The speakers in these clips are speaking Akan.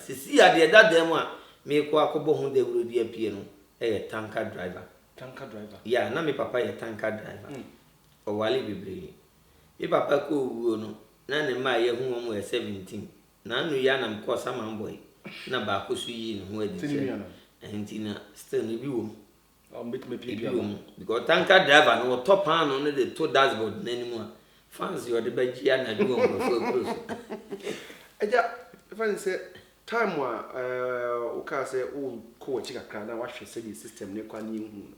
Seesei a deɛ ɛda dan mu a merekɔ akɔbɔ ho dawuro de apue no yɛ tanka driver. Tanka driver? Yeah, na me papa yɛ tanka driver. Mm. Ɔware bebree. Me papa kɔ owuo no, na ne mma a yɛahu wɔn yɛ 17. Naanu yi ara na mekɔɔ Saman Boy na baako nso yii ne ho adi sɛ, ɛno nti na still no ebi wɔ mu. Ebi wɔ mu because tanker driver no ɔtɔ paano no de to dashboard n'anim a fans yɛ ɔde bɛgye anadwo wɔ nkurɔfoɔ akuro so. Agya, ɛfa ne sɛ time a wokaa sɛ wokɔ w'akyi kakra na wahwɛ sɛdeɛ system no kɔ a ne yɛnhuu no,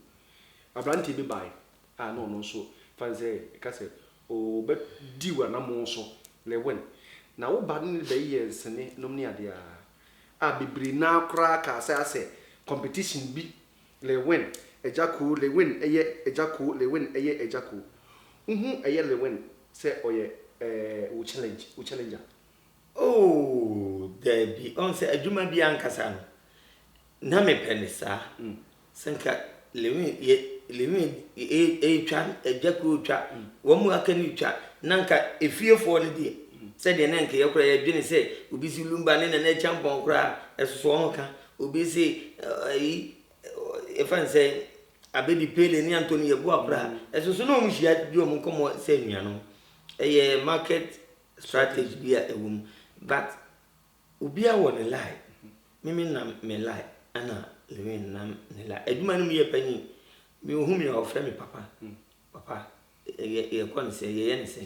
aberanteɛ bi bae a na ɔno nso fa ne sɛ ɛka sɛ ɔbɛdi w'anammɔn so lɛ wɛn na woba no ne bɛyɛ nsene nom ne adeɛ a a bebree no ara koraa kaa saa sɛ competition bi Lil Win agya koo Lil Win ɛyɛ agya koo Lil Win ɛyɛ agya koo Wohu ɛyɛ Lil Win sɛ ɔyɛ eh wo challenge wo challenger. Ooh daabi ɔhu sɛ adwuma bi ankasa no na mepɛ no saa Sɛ nka Lewin yɛ Lewin retwa agya kuro retwa wɔn mu aka no retwa na nka efiefoɔ no deɛ sɛdeɛ na nka yɛ koraa yɛdwene sɛ obi si lumba ne nana kyampɔn koraa ɛsoso wɔn ka obi si ayi yɛfa ne sɛ abedi pele ne antoni yɛboa koraa ɛsoso na wɔn hyia di wɔn nkɔmmɔ sɛ nnuanom ɛyɛ market strategy bi a ɛwɔ mu but Obia wɔ ne lie me me nam me lie ɛna lewin nam ne lie adwuma no mu yɛ panyin me ohu me a ɔfrɛ me papa papa yɛ yɛ kɔ ne sɛ yɛ yɛ ne sɛ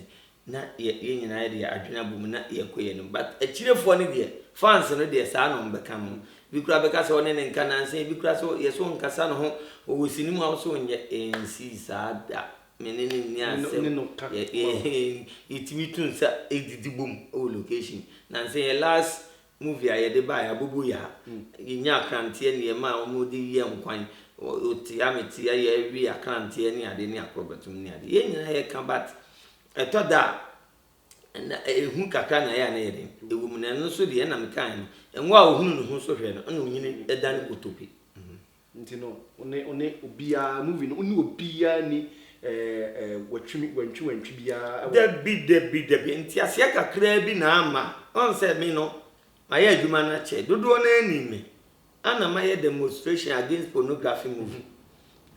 na yɛ yɛ nyinaa deɛ adwene abɔ mu na yɛ kɔ yɛ no but akyirefoɔ no deɛ fans no deɛ saa na ɔmo bɛka no bi kura bɛka sɛ ɔne ne nka nansa bi kura sɛ yɛ so nkasa ne ho ɔwɔ sini mu a ɔso nyɛ ɛnsi saa da Me ne no nni asɛm. Me ne no ka mom. Yɛtumi tu nsa didi bom wɔ location. Nansa yɛn last movie a yɛde baeɛ Abobo Yaa. Yɛnyaa akranteɛ ne yɛmaa wɔn de wiaa nkwan. Wotea metea yɛwe akranteɛ ne adeɛ ne akorɔbɛtom ne adeɛ. Yɛn nyinaa yɛka but ɛtɔ da a na ehu kakra na ɛyɛ a na ɛyɛ den. Ɛwɔ mu na ɛno nso deɛ ɛna mekaeɛ no. Ngo a ɔhunu ne ho so hwɛ no ɛna onyini dan kotope. Nti no one one obiaa movie no one obiaa nni watwi wantwi wantwi biaa wɔ. Dabi dabi dabi nteaseɛ kakraa bi na ama ɔn sɛ me no mayɛ adwuma no akyɛ dodoɔ no ara nim me ana mayɛ demonstration against pornography movie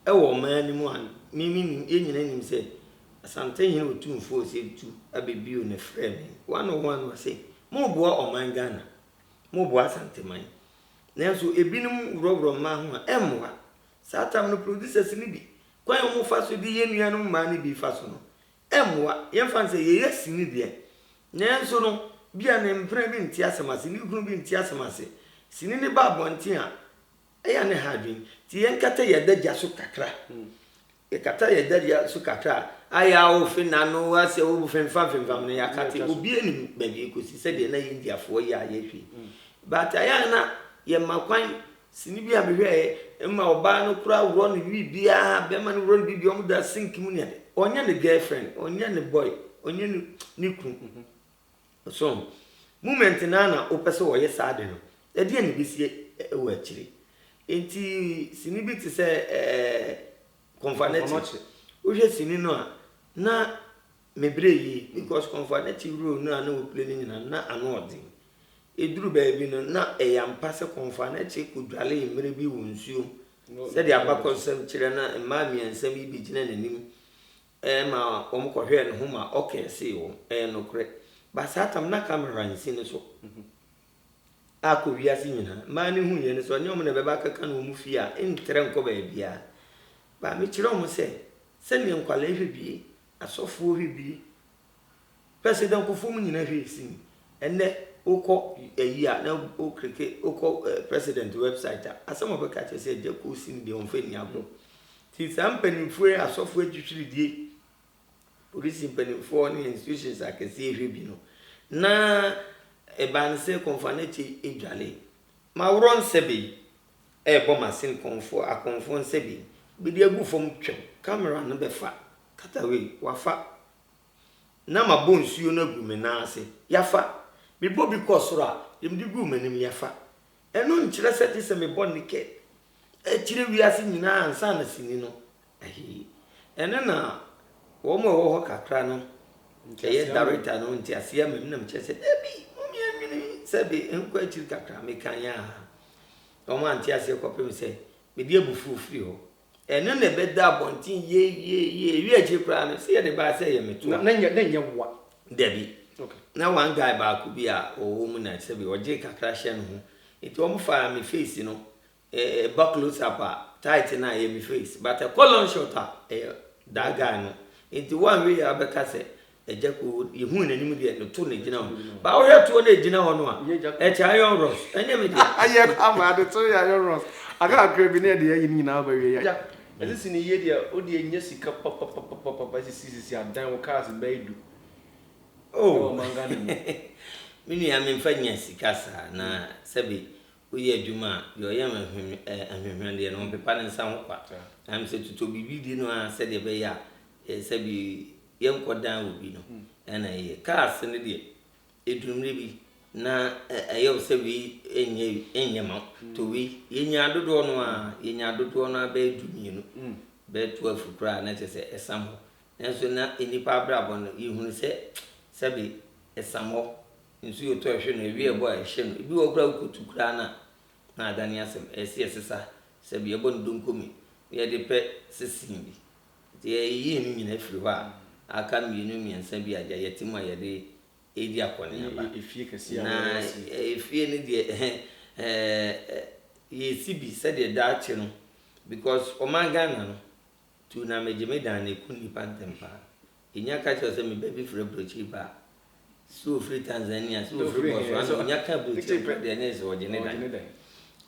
ɛwɔ ɔman no mu a me me nim yɛ nyina nim sɛ Asantehene Otumfuo Osei Tutu abɛbio ne frɛ me one on one ɔse moboa ɔman Ghana moboa Asanteman Nanso ebinom worɔworɔ mmaa ho a, ɛmmoa. Saa tam no, producers no bi, kwan a wɔfa so de yɛ nuanom mmaa no bi fa so no, ɛmmoa. Yɛmfa no sɛ yɛyɛ sini deɛ, nanso no, ebia ne mpena bi nte asɛm ase, ne kunu bi nte asɛm ase. Sini no ba abɔnten a, ɛyɛ a na ɛha adwene. Enti yɛnkata yɛn adagya so kakra. Yɛkata yɛn dadua so kakra a, ayɛ a wofi n'ano ase wo femfamfemfam no, yɛakate obi anim baabi kosi sɛdeɛ na Indiafoɔ yɛ a yɛhwɛ yi. But ayɛ a na yɛma kwan, sini bi a mehwɛeɛ, ɛma ɔbaa no koraa worɔ no biribiara, bɛrima no worɔ no biribiara, wɔn da sink mu ne adeɛ. Ɔnyɛ ne girlfriend, ɔnyɛ ne boy, ɔnyɛ ne kunu. So moment no ara na wopɛ sɛ wɔyɛ saa ade no? Ɛdeɛn na ɛbɛsi wɔ akyire? Nti sini bi te sɛ Kɔmfoanakyi. Wohwɛ sini no a, na me berɛ yie because Kɔmfoanakyi role no a na wɔplay no nyinaa na ano ɔden. Ɛduru baabi no, na ɛyɛ ampa sɛ Kɔmfoanakyi kɔdwalee mmerɛ bi wɔ nsuom sɛdeɛ abakɔsɛm kyerɛ na mmaa mmiɛnsa bi bɛgyina n'anim Ɛɛ ma wɔn kɔ hwɛɛ ne ho ma ɔkɛɛ see wɔn, Ɛɛ nokorɛ, ba saa tam na kamera nsi ne so a kɔ wiase nyinaa, mmaa no hu yɛn, sɛ ɔnyɛ wɔn na ɛbɛba akaka no wɔn fie a, ntrɛ nkɔ baabiara, ba mekyerɛ wɔn sɛ, sɛdeɛ nkwadaa hwɛ bi, asɔfoɔ hwɛ bi, Pɛ sɛ dɛ nkorɔfo mu nyina hwɛ sin ndɛ wokɔ ayi a na wo kleke wokɔ president website a asɛm a ɔbɛka akyerɛ sɛ gya kɔ sin deɛ ɔmfa nni agorɔ. Ntsi saa mpanyinfoɔ yi asɔfoɔ etwitwiridie, polisi mpanyinfoɔ ne institutions akɛseɛ hwɛ bi no na ebanse kɔnfanɛkye edwale. Maworɔ nsɛbe yi ɛɛbɔ masin kɔnfoɔ akɔnfoɔ nsɛbe yi bɛdi agu fɔm twɛw camera no bɛfa katawei wafa Na mabɔ nsuo no agu me nan ase, Yafa! Mebɔ bi kɔɔ soro a, deɛ mede guu m'anim, Yafa! Ɛno nkyerɛ sɛ gye sɛ mebɔ naked kyerɛ wiase nyinaa ansa na sini no ahi. Ɛno na wɔn a ɛwɔ hɔ kakra no ɛyɛ director no nteaseɛ ama me na mekyerɛ sɛ dabi, momia nwene sɛ de nkɔ akyiri kakra, mekaeɛ a wɔn ante aseɛ kɔpem sɛ mede abufuo firi hɔ. Ɛno na ɛbɛda abɔnten yeyeye. Ewiee akyiri koraa no, sɛ yɛde baa sɛ ɛyɛ me toa. Na na ɛnyɛ mmoa. Dabi. Na one guy baako bi a ɔwɔ mu na sɛbi ɔgye kakra hyɛ ne ho. Nti wɔfaa me face no, ɛba close up a, tight no a ɛyɛ me face. But ɛkɔ long shot a, ɛyɛ that guy no. Nti woanhwɛ yie a wobɛka sɛ Agya koo yɛhuu n'anim deɛ no to na gyina hɔ baa wohwɛ toɔ na ɛgyina hɔ no a ɛkyɛ ayɔn rɔs ɛnyɛ me deɛ. Ayɛ ama ade to yɛ ayɔn rɔs aka kakra bi na ɛde ayi ne nyinaa aba wie yɛ. Ɛsɛ si ne yie deɛ wodeɛ nya sika papapapapapa sisi sisi adan wo cars bɛyɛ du ɛwɔ man Ghana mu. Me nua me nfa nya sika saa na sɛbi woyɛ adwuma a deɛ ɔyɛ ahwehwɛ deɛ no ɔmpepa ne nsa ho kwa na mesɛ totɔ biribi di no ara sɛdeɛ ɛbɛyɛ a sɛbi Yɛnkɔ dan wɔ bi no ɛna ɛyɛ. Kaa ase no deɛ ɛduru mmerɛ bi na ɛyɛ wo sɛ wei ɛnyɛ ɛnyɛ ma to wei yɛnyaa dodoɔ no ara yɛnyaa dodoɔ no ara bɛyɛ du mmienu bɛyɛ twelve koraa na kyerɛ sɛ ɛsam hɔ nanso na nnipa abrabɔ no yɛhunu sɛ sɛbe ɛsam hɔ nso yɛtɔ ɛhwe no ɛwi ɛbɔ a ɛhyɛ no ebi wɔ koraa wokɔtu koraa no a na adane asɛm ɛsɛ yɛsesa sɛbe yɛbɔ no donkomi na yɛde pɛ sesin bi Nti yɛyeyii no nyinaa firii hɔ a, aka mmienu mmiɛnsa bi a gya yɛte mu a yɛde redi akɔneaba. Na efie no deɛ yɛresi bi sɛdeɛ daakye no, because ɔman Ghana no, tu na megye me dan no, ɛku nnipa ntɛm pa ara. Nya ka kyerɛ wo sɛ me ba bi firi aburokyiri ba a, sɛ ɔfiri Tanzania, sɛ ɔfiri Botswana, ɔnya ka aburokyire mpo deɛ ne yɛ sɛ ɔgye ne dan.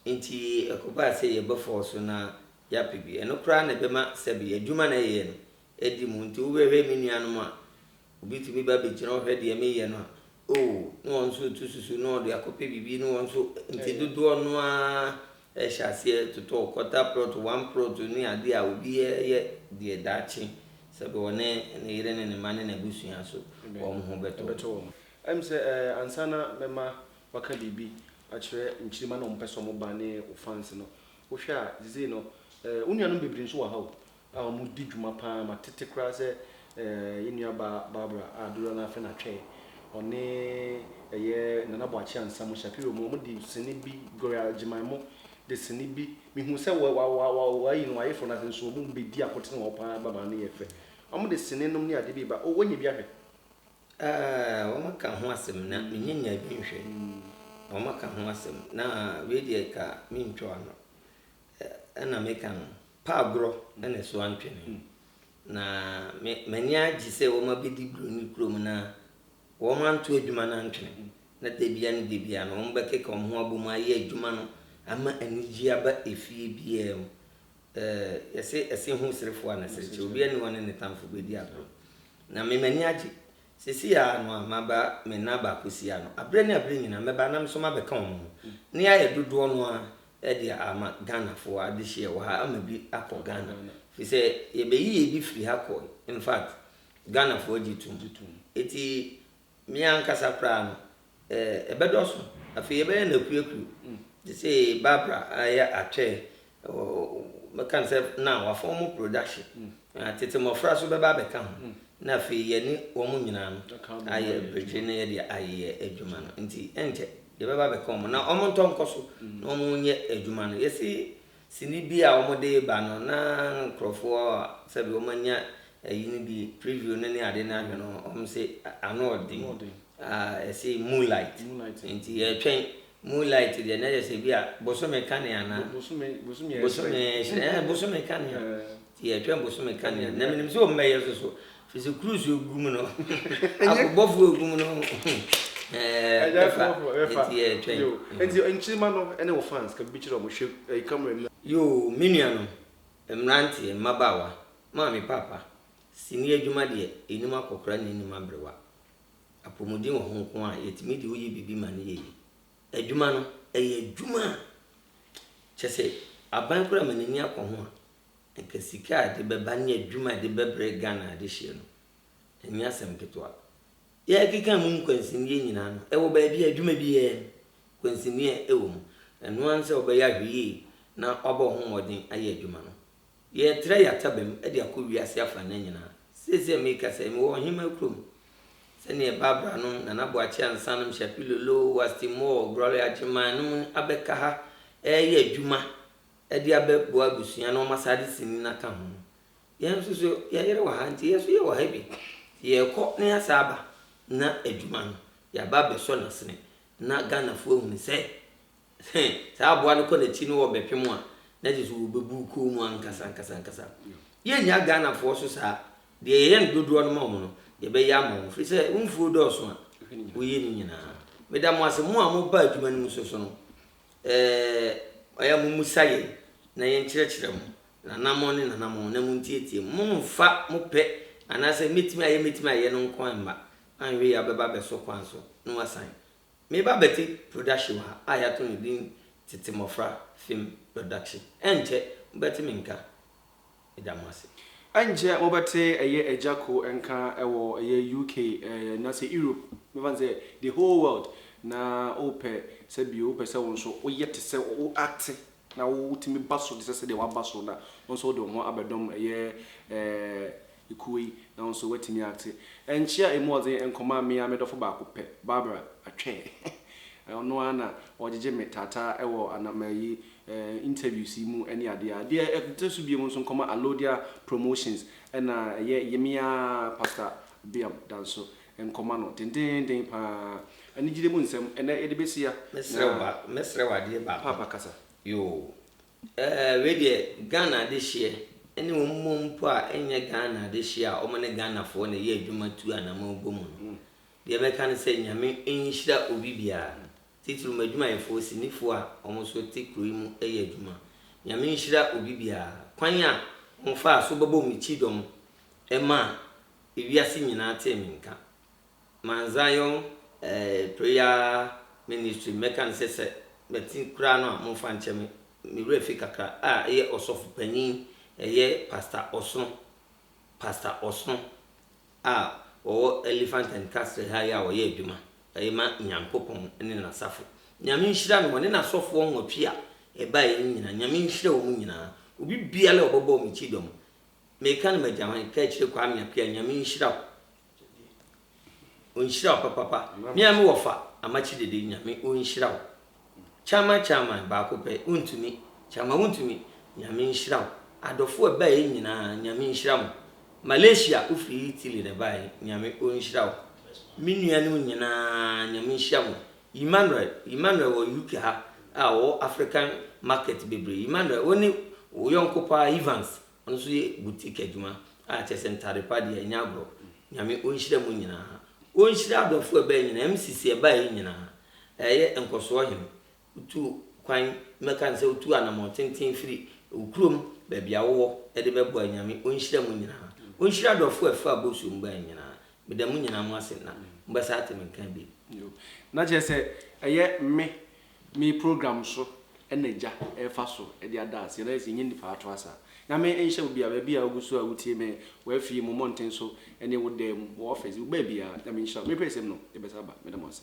Nti ɛkɔbaa sɛ yɛbɛfɔɔ so na yɛapɛ bi. Ɛno koraa na ɛbɛma sɛbe adwuma na ɛyɛɛ no adi mu. Nti wobɛhwɛ me nuanom a, obi tumi ba bɛgyina hɔ hwɛ deɛ meyɛ no a, oh, ne wɔn nso retu susu na ɔde akɔpɛ biribi ne wɔn nso, nti dodoɔ no ara. Hyɛ aseɛ totɔ kɔta prɔto one prɔto ne adeɛ a obi yɛ deɛ daakye sɛbe ɔne ne yere ne ne mma ne n'abusua so wɔn ho bɛtɔ wɔn. Ɛm sɛ ansa na mɛma waka biribi akyerɛ nkyirima na wɔn pɛ sɛ wɔn ba ne wo fans no, wo hwɛ a sesei no wo nuanom bebree nso wɔ ha o, a wɔdi dwuma pa ara ma tete koraa sɛ yɛn nuabaa Barbara a dodoɔ no ara fɛ na twɛɛ ɔne ɛyɛ Nana Boakye Ansah mu Shapiro mu wɔde sini bi Gloria Gyemaemo de sini bi me huu sɛ wɔ wɔ wɔ wɔayi no wɔayeforo no ase nso wɔn mu bɛdi akotene wɔ hɔ pa ara ababaa no yɛ fɛ wɔde sini nom ne adeɛ bi reba oh wɔanya bi ahwɛ Ah, wɔaka ho asɛm na mennya nyaa bi nhwɛ. Wɔaka ho asɛm na wei deɛ ka mentwa ano. Ɛna meka no. Pa agorɔ na ne so antwe me ho. Na me m'ani agye sɛ wɔn abɛdi duro ne kurom na wɔn anto adwuma no antwene na da biara ne da biara no wɔn bɛkeka wɔn ho abɔ mu ayɛ adwuma no ama anigyeɛ aba efie biara mu. Ɛɛ yɛse ɛse ho serefoɔ a ne sere kyɛ obiara nni hɔ a ɔne ne tamfo bɛdi agorɔ. Na me m'ani agye. Seesei ara no a maba me nna baako si ano. Aberɛ ne aberɛ nyinaa mɛba na me nso mabɛka wɔn ho. Ne yɛayɛ dodoɔ no ara Ɛde ama Ghana foɔ adehyeɛ wɔ ha ama bi akɔ Ghana firi sɛ yɛbɛyi yɛ bi firi ha kɔɔe infact Ghana foɔ gye tom ɛti me ankasa koraa no ɛbɛdɔso afei yɛbɛyɛ no akuru akuru te se Barbara ayɛ atwɛɛ mɛka no sɛ now wafɔm production Na tete mmɔfra nso bɛba abɛka ho, na afei yɛne wɔn nyinaa no ayɛ bere na yɛde ayɛ adwuma no. Enti ɛnkyɛ yɛbɛba abɛka wɔn, na wɔntɔ nkɔ so na wɔnyɛ adwuma no. Yɛsi sini bi a wɔde reba no, na nkurɔfo a sɛbi wɔanya ayi no bi, preview no ne ade no ahwɛ no, wɔse ano yɛ den. Ah ɛse moonlight nti yɛtwɛn moonlight deɛ na yɛsɛ bi a bosome kanea ana bosome bosome bosome hyerɛn ɛɛ bosome kanea nti yɛtwɛn bosome kanea na menim sɛ wɔn bɛyɛ so so firi sɛ cruise egu mu no akobɔfoɔ egu mu no ɛɛ ɛfa nti yɛtwɛn nti nkyirima no ɛne wɔ fans ka bibi kyerɛ wɔn hwɛ ɛyi camera mu na. Yoo me nua no mmranteɛ mmabaawa maame paapa sini adwuma deɛ enim akɔkora na enim abrewa Apɔmuden wɔ ho nko a, yɛtumi de woyɛ biribi ma no yɛyi. Adwuma no, ɛyɛ adwuma a kyɛ sɛ aban koraa ma n'ani akɔ ho a, nka sika a ɛde bɛba ne adwuma a ɛde bɛbrɛ Ghana adehyeɛ no, ɛnyɛ asɛm ketewa. Yɛkeka mu nkwansineɛ nyinaa no, ɛwɔ baabi a adwuma biara no, nkwansineɛ wɔ mu. Ɛno ara ne sɛ wobɛyɛ ahwɛ yie na wabɔ wo ho mmɔden ayɛ adwuma no. Yɛretra yɛn atabam de akɔ wiase afanan nyinaa. Seesei a merekasa yi, mewɔ ɔhemmaa kurom. Sɛdeɛ Barbara nom, Nana Boakye Ansah nom, Shappi Lolo, Wasti Moore, Gloria Agyemang nom abɛka ha reyɛ adwuma de abɛboa abusua na wɔasan de sini no aka ho no, yɛn nso so yɛyere wɔ ha, enti yɛn nso yɛwɔ ha bi. Enti yɛrekɔ na yɛasan aba na adwuma no, yɛaba abɛsɔ no asene na Ghanafoɔ ahunu sɛ, Sɛ saa aboa no kɔ n'akyi no wɔbɛpem a, na kyerɛ sɛ wɔbɛbu kuo mu ankasa ankasa ankasa. Yɛnnya Ghanafoɔ so saa. Deɛ yɛyɛ no dodoɔ no ma wɔn no, yɛbɛyɛ ama wɔn. Firi sɛ wo mfuo dɔɔso a, woyɛ ne nyinaa. Meda mo ase, mo a moba adwuma no mu so so no, eh, ɔyɛ a mommusa yɛn na yɛnkyerɛkyerɛ mo nanammɔn ne nanammɔn na montietie mu. Mommfa mo pɛ anaasɛ mɛtumi ayɛ mɛtumi ayɛ no nko mma, anhwɛ yei a wobɛba abɛso kwan so na woasan Me ba bɛte production wɔ ha a yɛato no din Tete Mmɔfra Film Production. Ɛnkyɛ mobɛte me nka. Meda mo ase. Ɛnkyɛ mobɛte ɛyɛ Agya Ko nka wɔ ɛyɛ UK anaasɛ Europe, mɛfa no sɛ the whole world, na wopɛ sɛ bio wopɛ sɛ wo nso woyɛ te sɛ wo ate Na wo wotumi ba so te sɛ sɛdeɛ waba so na wo nso wode wo ho abɛdɔm ɛyɛ eh, ekuo yi na wo nso woatumi acte ɛnkye a ɛmu ɔdzen nkɔmaa me ara me dɔfo baako pɛ, Barbara Atwɛɛ eh, ɔno ara na ɔgyegye me taataa ɛwɔ anam ɛyi eh, interviews yi mu ɛne adeɛ a. Deɛ ɛte so biom nso nkɔma Alodia Promotions ɛna ɛyɛ yeme ara Pastor Biam Danso Nkɔma no dendeenden pa ara. Anigyede mu nsɛm na yɛde bɛhyia. Mesrɛ wo ba, mɛsrɛ wo adeɛ baako. Paapa kasa. Yoo. Ɛɛ, wei deɛ, Ghana adehyeɛ ne wɔn mmom mpo a ɛnyɛ Ghana adehyeɛ a wɔn ne Ghanafoɔ na ɛyɛ adwuma tu anammɔn bɔ mu no, deɛ mɛka ne sɛ Nyame nhyira obi biara, titiriw m'adwumayɛfoɔ, sinifoɔ a wɔn nso te kuro yi mu yɛ adwuma. Nyame nhyira obi biara. Kwan a wɔfaa so bɛbɔɔ me kyidɔm maa Ewiase nyinaa tee me nka. Mount Zion eh, prayer ministry, mɛka no sɛ sɛ mate koraa no a momfa nkyɛ me, me werɛ fi kakra a ɛyɛ ɔsɔfo panin, ɛyɛ Pastor Ɔsono, Pastor Ɔsono a ɔwɔ Elephant and Castle ha yi a ɔyɛ adwuma ɛyɛ ma Nyankopɔn ne N'asafo. Nyame nhyira no, ɔne N'asɔfoɔ nwɔtwe a ɛbaeɛ no nyinaa, Nyame nhyira wɔn nyinaa. Obi biara a ɔbɛbɔɔ me kyidɔm, Meka no magya hwan ka akyire Kwame Appiah Nyame nhyira wo Ɔnhyira wo papapa Me a me wɔfa Amakye Dede Nyame ɔnhyira wo Chairman Chairman baako pɛ wontumi Chairman wontumi Nyame nhyira wo Adɔfo a ɛbaeɛ nyinaa Nyame nhyira mo Malaysia wofiri Italy na ɛbaeɛ Nyame ɔnhyira wo Me nuanom nyinaa Nyame nhyira mo Emmanuel, Emmanuel wɔ UK ha a ɔwɔ African market bebree. Emmanuel, wo ne wo yɔnko paa Evans, ɔno nso yɛ boutique adwuma a kyerɛ sɛ ntade pa deɛ ɛnyɛ agorɔ. Nyame ɔnhyira mo nyinaa. Ɔnhyira abrɔfo a ɛbaeɛ nyinaa, MCC a ɛbaeɛ nyinaa. Ɛyɛ nkɔsoɔ hene. Wotu kwan, mɛka no sɛ wotu anamɔn tenten firi wo kurom baabi a wowɔ de bɛboa yi, Nyame ɔnhyira mo nyinaa. Ɔnhyira adɔfo a ɛfaa bosuo mu baeɛ nyinaa. Meda mo nyinaa mo ase na mo bɛ saa te me nka bi. Yo na kyerɛ sɛ ɛyɛ me me program so ɛna agya ɛfa so ɛde ada aseɛ na yɛ sɛ nyɛ nipa ato asa nyame nhyɛ wo bia baabi a wo gu so a wo tie me wɔ afie mu mmɔnten so ɛne wo dan mu wɔ office wo baabi a nyame nhyira wo me pɛ sɛm no yɛ bɛ sa aba meda mo ase.